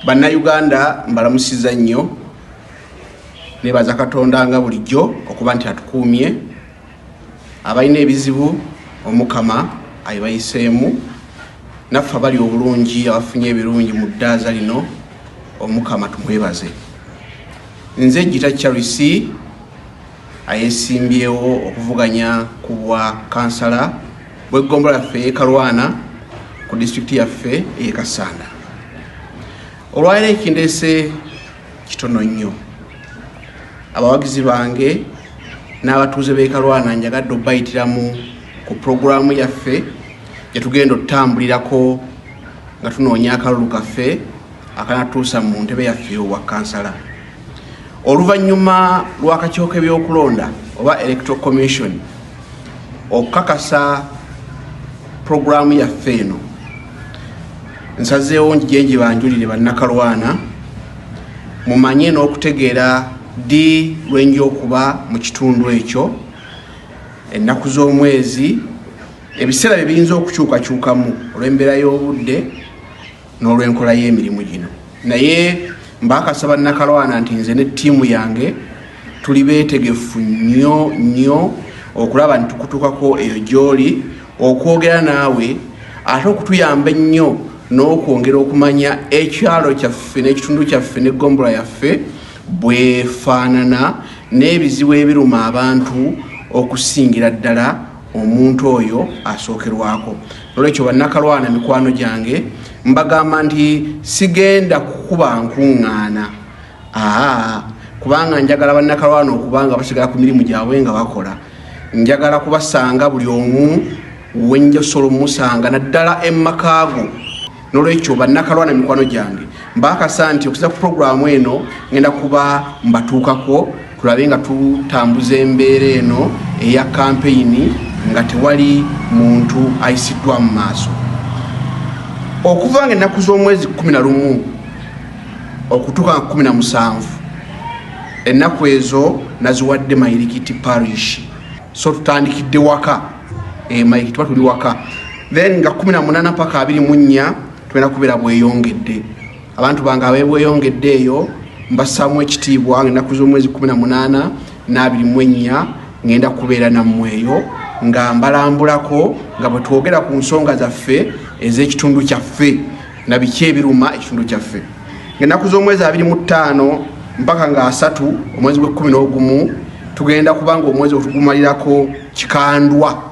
bannayuganda mbalamusiza nnyo nebaza katonda nga bulijjo okuba nti atukuumye abalina ebizibu omukama ayibayiseemu naffe abali obulungi abafunye ebirungi mu ddaaza lino omukama tumwebaze nze gita charles ayesimbyewo okuvuganya ku bwa kansala bw'eggombolola yaffe ey'e Kalwana ku disitulikiti yaffe ey'e Kassanda. Olwaliro ekindeese kitono nnyo. Abawagizi bange n'abatuuze b'e Kalwana njagadde okubayitiramu ku pulogulaamu yaffe gye tugenda okutambulirako nga tunoonya akalulu kaffe akanatuusa mu ntebe yaffe owa kansala. Oluvannyuma lw'akakiiko k'ebyokulonda oba Electoral Commission okukakasa pulogulaamu yaffe eno nsazeewo njije njibanjulire bannakalwana mumanye n'okutegeera ddi lwenja okuba mu kitundu ekyo ennaku z'omwezi ebiseera bye biyinza okukyukakyukamu olw'embeera y'obudde n'olw'enkola y'emirimu gino naye mbakasa bannakalwana nti nze ne ttiimu yange tuli beetegefu nnyo nnyo okulaba nti tukutukako eyo gy'oli okwogera naawe ate okutuyamba ennyo n'okwongera okumanya ekyalo kyaffe n'ekitundu kyaffe n'eggombola yaffe bwefaanana n'ebizibu ebiruma abantu okusingira ddala omuntu oyo asookerwako nolwekyo bannakalwana mikwano gyange mbagamba nti sigenda kukuba nkuŋŋaana aa kubanga njagala bannakalwana okubanga basigala ku mirimu gyabwe nga bakola njagala kubasanga buli omu wenjasobola omusanga naddala emakaago nolwekyo bannakalwa na mikwano gyange mbakasa nti okuza ku puroguramu eno ngenda kuba mbatuukako tulabe nga tutambuza embeera eno eya kampeyini nga tewali muntu ayisiddwa mu maaso okuva nga ennaku z'omwezi 11 okutuuka nga 17 ennaku ezo naziwadde mayirikiti parish so tutandikidde waka e mike tuba tuli waka then nga 18 paka 24 twena kubera bweyongedde abantu bange abebweyongedde eyo mbasamu ekitiibwa ngenaku zomwezi 18 nabiri mwenya ngenda kubeera nammweyo nga mbalambulako nga bwetwogera ku nsonga zaffe ez'ekitundu kyaffe na biki ebiruma ekitundu kyaffe ngaenaku z'omwezi abiri mu ttaano mpaka nga asatu omwezi gw'ekkumi n'ogumu tugenda kubanga omwezi otugumalirako kikandwa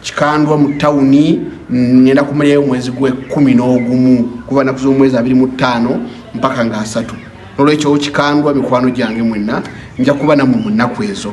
kikandwa mu tawuni ngenda kumalirayo omwezi gwekumi n'ogumu kuva naku z'omwezi abiri mu ttaano mpaka nga asatu nolwekyo kikandwa mikwano gyange mwenna nja kuba namwe mu nnaku ezo